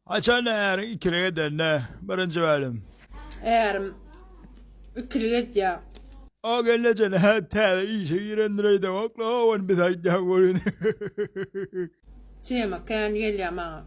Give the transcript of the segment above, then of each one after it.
Haçanda äriň ikilik edende, birinji bölüm. Ärim ikilik edýär. O gelneje nädip täze işe girendireýdä oklawan biz aýtýan welin. Tema kän gelýär maňa.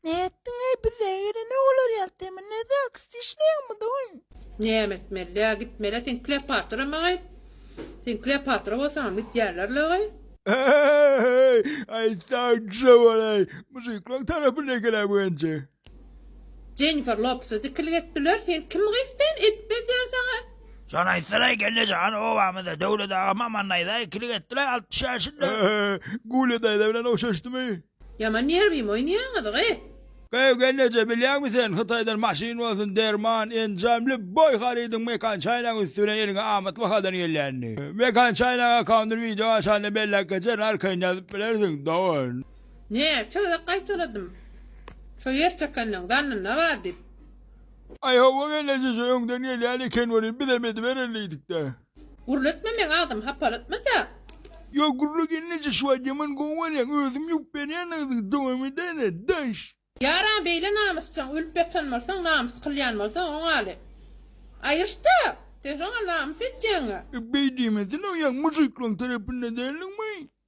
Nätdiňeý bize ýerine olar ýatymy ne zaksda işleýäňmi doýn. Näme etmelidä gitmele sen kleopatra maý sen kleopatra bolsaňam gidýärler laý. Eý, aýtsaň düşe bolaý, mužyklaň tarapyna geläý bu enje. Jennifer Lopesa dikilik etdiler, sen kim gys sen, etmez ýa saňa. Jan aýtsanaý gelne jan obamyzda Döwlet aga Mamandaýza ikilik etdilaý altmyş ýaşynda. Eý, Gulýa daýza bilen ogşaşdymy? Ýaman nerwim oýnaýaňyz gyy. Göwgel neçe bilýäňmi sen hytaýdan maşyn bolsun derman enjam lýubboý harydyň mekan çaýnagyň üsti bilen eliňe amat bahadan gelýänini mekan çaýnagyň akkaundyny wideo açanda belläp geçerin arkaýyn ýazyp bilersiň dogan. Näçe gezek gaýtaladym şo ýer çekenleň zannynda bar diýip. Aý howwa gelneje şu öňden gelýän eken welin bizem ediberin diýdikdä. Gürletme meň agzymy hapalatmada. Ýok gürle gelneje şu wagt ýaman gowy bolýaň özüm ýuwup berýän agzyňy dowam edäýle daş. Ýaran beýle namysjaň ölüp ýatan bolsaň namys kylýan bolsaň oňaly aýyrşda sen şoňa namys etýäňä. Beý diýmesene oýaň mužyklaň tarapynda däldiňmi.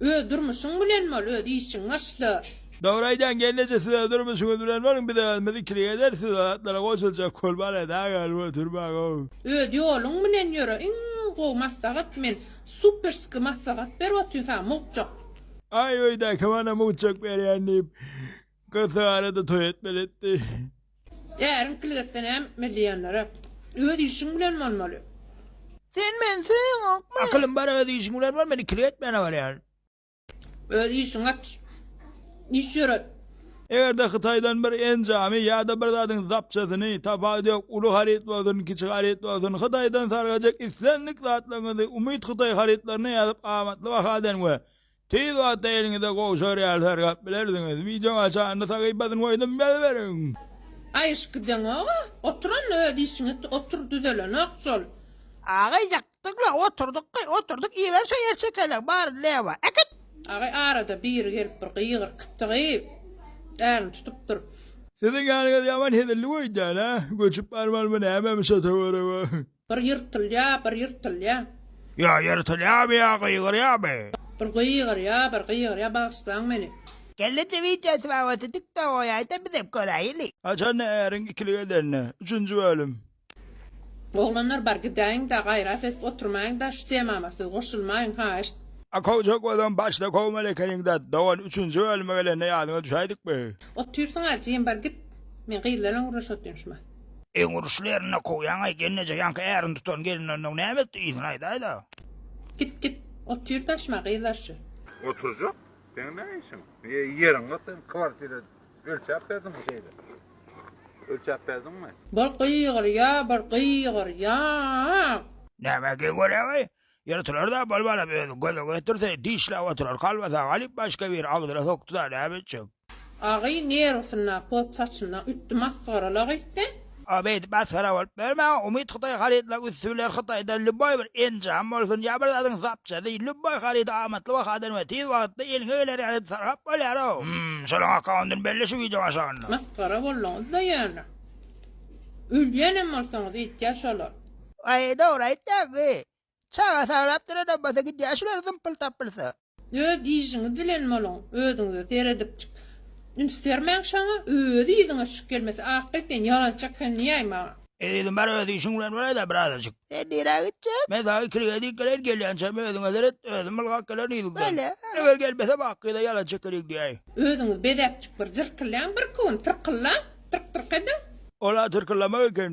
Öz durmuşyň bilen bol öz işiň başda. Dogry aýdýaň gelneje siz öz durmuşyňyz bilen boluň biz özümiz ikilik ederis siz o zatlara goşuljak bolmana daň galyp oturmaň ow. Öz ýoluň bilen ýöre iň gowy maslahat men superski maslahat berip otyn saňa mugjak. Aý öýdäki mana mugjak berýän diýip. Kysarada toý etmeli etdi. Äriň pilgetde näm milli ýanlara. Öz işiň bilen bolmaly. Sen meni söýeňokmy? Akylym bar öz işiň bilen bol men ikili etmäne barýan. Öz işiňi aç. Iş ýöret. Egerde hytaýdan bir enjamy ýada bir zadyň zapçasyny, tapagy ýok uly haryt bolsun kiçi haryt bolsun hytaýdan sargajak islendik zatlaryňyzy umyt hytaý harytlaryna ýazyp amatly bahadan we Tiz wagtda eliňize gowy serial saýlap bilersiňiz. Wideoň aşagynda sahypasyny goýdum ýaz beriň. Gaýyşyp gideňoga, otur onda öz işiňi et, otur düzelenok şol. Agay ýakdyňla oturdyky oturdyk iber şo ýer çekele bary lewa äkit. Agay arada biri gelip bir gygyr kytygyp älini tutup dur. Siziň ýanyňyz ýaman hezilli goýdýan a göçüp barmalymy nämemi şo töwerege. Bir ýyrtylýa, bir ýyrtylýa. Ýa ýyrtylýamy, ýa gygyrýamy. Bir gygyrýa, bir gygyrýa, bagyşlaň meni. Kelleje wideo tbawasy tik tok goýaýda bizem göräýeli. Haçanda äriň ikili gezende. Üçünji bölüm. Oglanlar bar gidäýiňda gaýrat edip oturmaýyňda şu temama siz goşulmaýyň haýyşt. A kowjak ozam başda kowmaly ekeniň dat dogan üçünji bölüme gelende ýadyňa düşäýdikmi. Otyrsyňa jim bar git. Men gyzlar bilen gürleşotyryn şumat. Öň uruşly ýerinde kowýaňaý gelneje ýaňky ärini tutan gelinlerin öň näme etdi yzyny aýdaýda. Git git otyr daşyma gyzlar şu. Oturjak seň ne işiň ýeriň ýok seň kwartira ölçäp berdiňmi şeýle ölçäp berdiňmi. Bol gygyr ýa bir gygyr ýa. Nämä geň görýäňaý Ýyrtylar-da, bolmalam özi göze getirse, dişläp oturar, kolbasa galyp, başga biri agzyna sokdy-da, näme etjek? Agy nerwsynda, pop saçynda ütdi masgarala gitdi. A beýdip masgara bolup ýörmäň, Umyt hytaý harytlaryň üsti bilen Hytaýdan lýuboý bir enjam bolsun ýa bir zadyň zapçasy, lýuboý harydy amatly bahadan we tiz wagtda eliňe geler ýaly edip sargap bolýar-ow. Hum, şonuň akkaundyny belle şu wideoň aşagynda. Masgara bolduňyz-da ýöne. Ölýänem bolsaňyz, edýär şolar. Aý dogry aýtýaň bi. Çaga saglap duran obada gidýär şular zympyl tapylsa. Öz işiňiz bilen boluň özüňize seredipjik üns bermäň şaňa öz yzyňa şük gelmese akga sen ýalançy ekenini ýaý maňa. Ezizim bar öz işiň bilen bolaýda birazajyk. Sen nirä gitjek? Men saňa ikilige dek geleýin gelýänçäm özüňe seret özüm ylgap gelerin yzygdan. Eger gelmesem akgyza ýalançy ekenini diýäýin. Özüňiz bezäpjik bir jyrkylýaň birki gün tyrkyllaň tyrk tyrk ediň. Ola tyrkyllamak eken.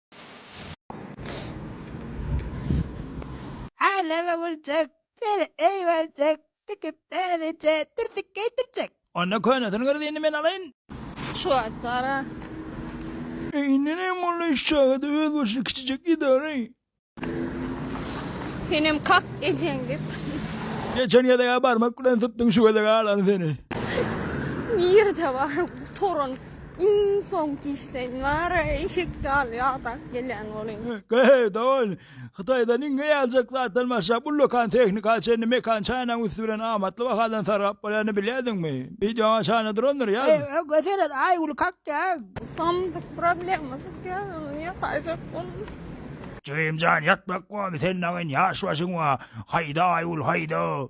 Aleme güljek, beri eýberjek, tikip dälije, dürtük geýdirjek. Onda könesini görüz indi men alaýyn. Şu wagt gara. Indi näme boldy iş çagada öz başyna kiçijek idara-aý. Senem kak ejeň dep. Geçen gezeg-ä barmak bilen sypdyň şu gezeg alany seni. Nirede baryň gutaryn. Iň soňky işleň bara eşek ýaly ýadap gelýän bolyň. Gaý, dogan, Hytaýdan iň eýajak zatdan başlap, ullakan tehnika çenli mekan çaýnagyň üsti bilen amatly bahadan sargap bolýanyny bilýärdiňmi? Wideoňa çaýna durandyr, ýaz. Öňe seret, Aýgül kakýar. Samsyk problema çykýar, indi ýataýjak boldum. Jigim jan ýatmak gomy senin agyň ýaş başyň bar haýda Aýgül haýda.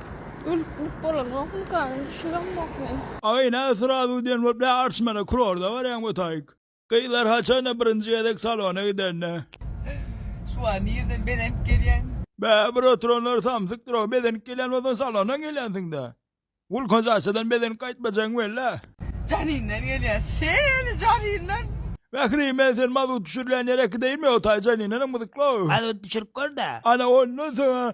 Ölüp bolanokmyka men düşüremok men. Agay nä srazu diyen bolup nä artşmana kurorda baryan botaik. Gyzlar haçanda birinji gezek salona gidende. Şu an nirden bezenip gelýäň. Bä bir oturanlar samsykdyrow bezenip gelýän bolsaň salondan gelýänsiňdä. Gulkan şaşadan bezenip gaýtmajagyň wella. Janinden gelýä seni janinden. Mähri men sen mazut düşürilýän ýere gideyinmi otay janinenem gyzyklow. Mazut düşürip görda. Ana ondan soňa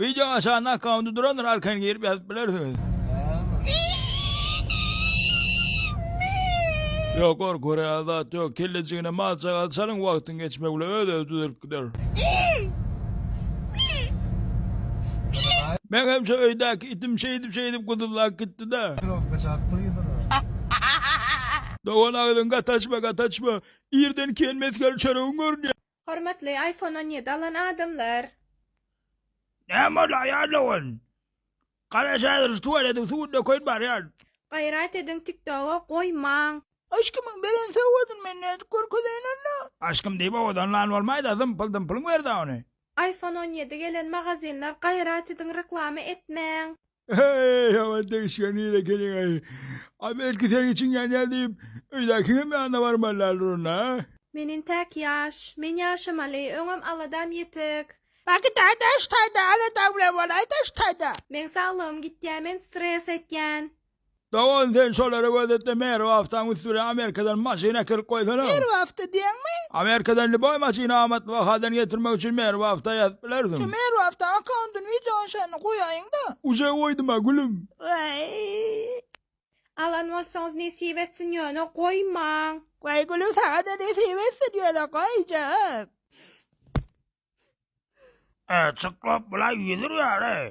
Wideo aşanda akkaunty durandyr arkany girip ýazyp bilersiňiz. Ýok gor gorýan zat ýok kellejigine mal çagal çalyň wagtyň geçmegi bilen öz özi düzelip gider. Meň hem şu öýdäki itim şeýdip şeýdip gyzyllap gitdida. Trowka çap gyzyna. Dogan agzyňy gataçma gataçma. Irden kiýen mesgel çöregiň görünýär. Hormatly iPhone on ýedi alan adamlar. Näme boldy aýal owan. Gara şäheriş tuwaletiň suwuny dökeýin barýan. Gaýrat ediň tiktoga goýmaň. Aşkymyň beren sowgadyny men nädip görkezeýin onda. Aşkym diýip owadanlan bolmaýda zympyl zympyl wer da ony. Iphone on ýedi gelen magazinler gaýrat ediň reklama etmäň. Eý, ýaman degişgen gyz ekeniň-eý. A belki seniň içiň ýanýar diýip, öýdäkiňem ýanyna barmaly däldir onda-a? Men entäk ýaş. Men ýaşamaly. Öňem aladam ýetik. Bagtyýar daş taýda alada bilen bolaý daş taýda. Meň saglygym gitýär, men stres etýän. Dogan sen şolara gözetde Mary wagtam üst bilen Amerikadan maşyn äkelip goýsana. Mary wagta diýeňmi? Amerikadan lýuboý maşyny amatly bahadan getirmek üçin Mary wagta ýazyp bilersiň. Şu Mary wagta akkauntyny wideony şonda goýaýyňda. Uje goýduma gülüm. Waý. Alan bolsaňyz nesip etsin ýöne goýmaň. Goý gülüm saňada nesip etsin ýöne goýjak. Çyklap bulaý ýüzürýär eý.